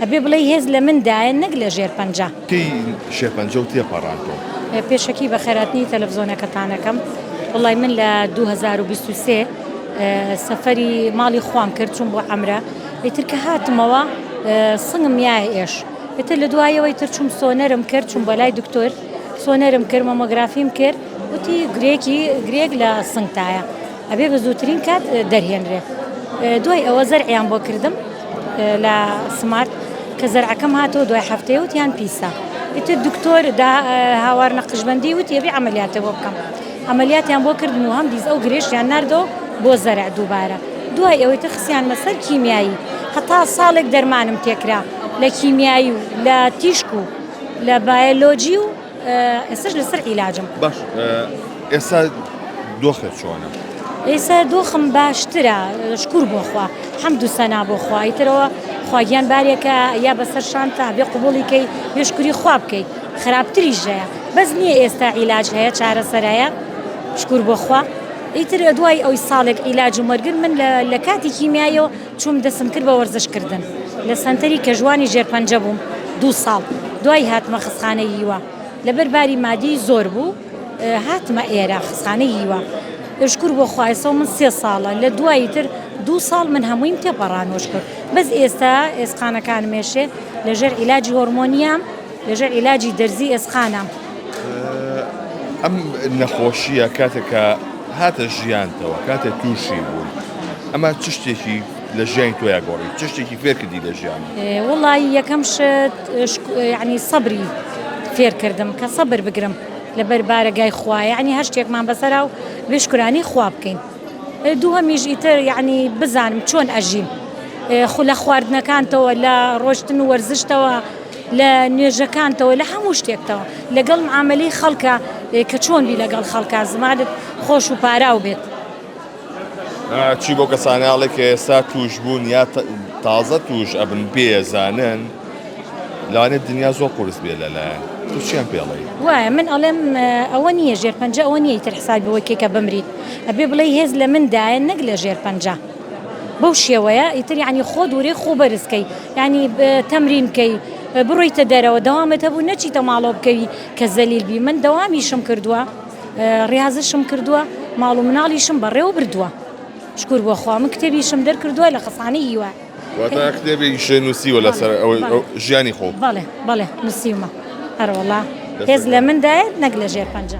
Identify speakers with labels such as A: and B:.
A: ئەبێ بڵێی هێز لە من دایە نەک لە ژێر پەنجە. کەی
B: شێرپەنجە و تێپەڕان تۆ؟ پێشەکی بە
A: خێراتنی تەلەفزۆنەکەتانەکەم وڵی من لە 2023 سەفەری ماڵی خوام کرد چون بۆ ئەمرە ئیتر کە هاتمەوە سنگم یای ئێش ئتر لە دوایەوەی تر چوم سۆنەرم کرد چون بەلای دکتۆر سۆنەرم کرد مەمۆگرافیم کرد وتی گرێکی گرێک لە سنگتایە ئەبێ بە زووترین کات دەرهێنرێ دوای ئەوە زەرعیان بۆ کردم لە سمارت کە زەرعەکەم هاتەوە دوای هەفتەیە وتیان پیسە ئیتر دکتۆر هاوار نەقشبندی وتی ئەبێ عملیاتە بۆ بکەم عملیاتیان بۆ کردن و هەم دیز ئەو گرێشیان نردەوە بۆ زەرع دووبارە دوای ئەوەی تر خسیان مەسەر کیمیایی هەتا ساڵێک دەرمانم تێکرا لە کیمیایی و لە تیشک و لە بایەلۆجی و ئێستش لەسەر عیلاجم باش
B: ئێستا دۆخێت چۆنە؟ ئێستا
A: دۆخم باشترە شکور بۆخوا هەم دووسەنا بۆ خوای ترەوە خواگیان بارێکە یا بەسەر شانتا بێ قوبڵیکەی بێشکوری خوا بکەیت خراپتری ژەیە بەس نییە ئێستا عیلاج هەیە چارەسەرایە شکور بۆخوا ئیتر دوای ئەوی ساڵێک عیلاج و مەرگر من لە کاتی کیمیایەوە چووم دەستم کرد بە وەرزش کردن لە سەنتەری کەژوانی ژێر پەنجە بووم دوو ساڵ دوای هاتمە خسخانەی ییوە لەبەر باری مادی زۆر بوو هاتمە ئێرە خسخانەی ییوە شکر بۆ خوایسەوە من سێ ساڵە لە دوایی تر دوو ساڵ من هەموویم تێپەڕانۆش کرد بەس ئێستا ئێسقانەکان مێشێ لەژێر عیلاجی هۆرمۆنیام لەژێر عیلاجی دەرزی ئێسقانە.
B: ئەم نەخۆشییە کاتێک کە هاتە ژیانتەوە کاتێک تووشی بووی ئەمە چ شتێکی لە ژیانی تۆیا گۆڕی چ شتێکی فێرکردی لە ژیان ئێ، وەڵی یەکەم
A: شت شک- یعنی سەبری فێرکردم کە سەبر بگرم لەبەر بارەگای خوا یعنی هەر شتێکمان بەسەرا و بێ شکرانی خوا بکەین ئێ دووهەمیش ئیتر یعنی بزانم چۆن ئەژیم ئێ خو لە خواردنەکانتەوە لە ڕۆشتن و وەرزشتەوە لە نوێژەکانتەوە لە هەموو شتێکتەوە لەگەڵ معاملەی خەڵکە کە چۆن بی لەگەڵ خەڵکە زمانت خۆش و پاراو بێت.
B: چی بۆ کەسانناڵێک کە ئێستا توش بوون یا تازە توش ئەبن بێزانن لانێت دنیا زۆر قرس بێ لەلایەن تووشیان پێڵی وایە من ئەڵێم
A: ئەوە نییە ژێر پەنج ئەوە نییە تر حسابەوەکێکە بمریت ئەبێ بڵێ هێز لە مندایە نەک لە ژێر پەنج. بەو شێوەیە ئیتر یعنی خۆ دوورەی خۆ بەرز کەی یعنی تەمرین کەی بڕۆیتە دەرەوە دەوامت هەبوو نەچیتە ماڵۆ بکەوی کە زەلیل بی من دەوامیشم کردووە ڕاضشم کردووە ماڵ و مناڵیشم بەڕێوە بردووە شکور بۆ خوا من کتێبیشم دەرکردووە لە خەسانە هیوا کتێبی
B: شێ نووسیوە لەسەر ژیانی خۆ
A: بەڵێ بەڵێ
B: نووسیمە
A: هەرۆڵا هێز لە مندایە
B: نەک
A: لە ژێر پەنجە.